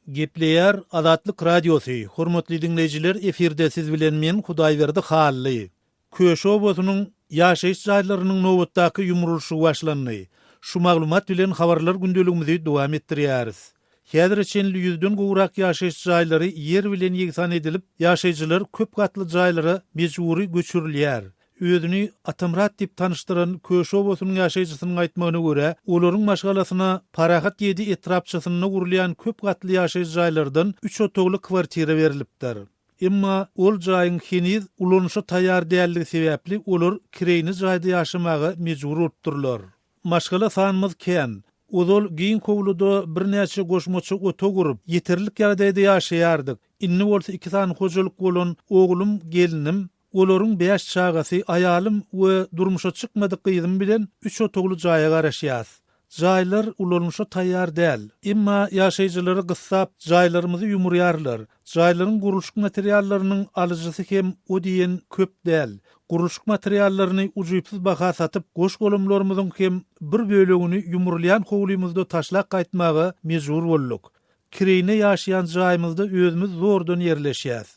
Gepleýär Azatlyk Radiosy, hormatly diňleýjiler efirde siz bilen men Hudaýberdi Hally. Köşi obasynyň ýaşaýyş jaýlarynyň nobatdaky ýumrulyşygy başlandy. Şu maglumat bilen Habarlar gündeligimizi dowam etdirýäris. Häzire çenli ýüzden gowrak ýaşaýyş jaýlary ýer bilen ýegsan edilip, ýaşaýjylar köp gatly jaýlara mejbury göçürilýär. Özüni Atamyrat diýip tanyşdyran Köş obasynyň ýaşaýjysynyň aýtmagyna görä, olaryň maşgalasyna Parahat ýedi etrapçasynda gurulýan köp gatly ýaşaýjy jaýlardan üç otagly kwartira berilipdir. Emma ol jaýyň heniz ulanyşa taýýar däldigi sebäpli olar kireýine jaýda ýaşamaga mejbur bolupdyrlar. Maşgala sanymyz kän. Ozal giň howluda birnäçe goşmaça otag gurup, ýeterlik ýagdaýda ýaşaýardyk. Indi bolsa iki sany hojalyk bolan oglum, gelnim, Olaryň bäş çagasy, aýalym we durmuşa çykmadyk gyzym bilen üç otagly jaýa garaşýas. Jaýlar ulanyşa taýýar däl. Emma ýaşaýjylary gyssap, jaýlarymyzy ýumurýarlar. Jaýlaryň gurluşyk materiallarynyň alyjysy hem o diýen köp däl. Gurluşyk materiallaryny ujypsyz baha satyp, goş-golamlarymyzyň hem bir bölegini ýumrulýan howlymyzda taşlap gaýtmaga mejbur bolduk. Kireýine ýaşaýan jaýymyzda özümiz zordan ýerleşýäs.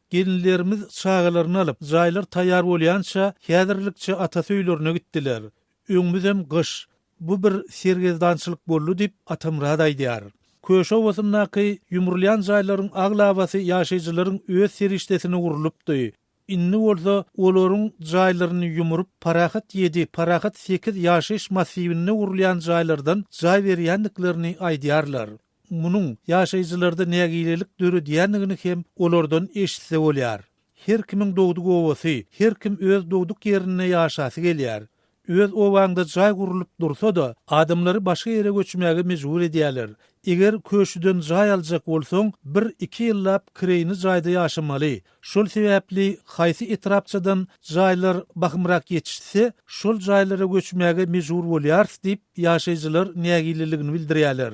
Gelinlerimiz çagalaryny alyp, jaýlar taýýar bolýança, häzirlikçe atasy öýlerine gitdiler. Öňümizem gyş. Bu bir sergezdançylyk boldy diýip, Atamyrat aýdýar. Köşe obasyndaky ýumrulýan jaýlaryň aglabasy ýaşaýjylaryň öz serişdesine urlupdy. Indi bolsa olaryň jaýlaryny ýumrup, Parahat ýedi, Parahat sekiz ýaşaýyş massiwinde gurulýan jaýlardan jaý berýändiklerini aýdýarlar. munuň ýaşaýjylarda nägilelik döredýändigini hem olardan eşitse bolýar. Her kimiň dogduk obasy, her kim öz dogduk ýerinde ýaşasy gelýär. Öz obaňda jaý gurlup dursa-da, adamlary başga ýere göçmäge mejbur edýärler. Eger köşüden jaý aljak bolsaň, bir, iki ýyllap kireýini jaýda ýaşamaly. Şol sebäpli haýsy etrapçadan jaýlar bahymrak ýetişse, şol jaýlara göçmäge mejbur bolýarys diýip, ýaşaýjylar nägileligini bildirýärler.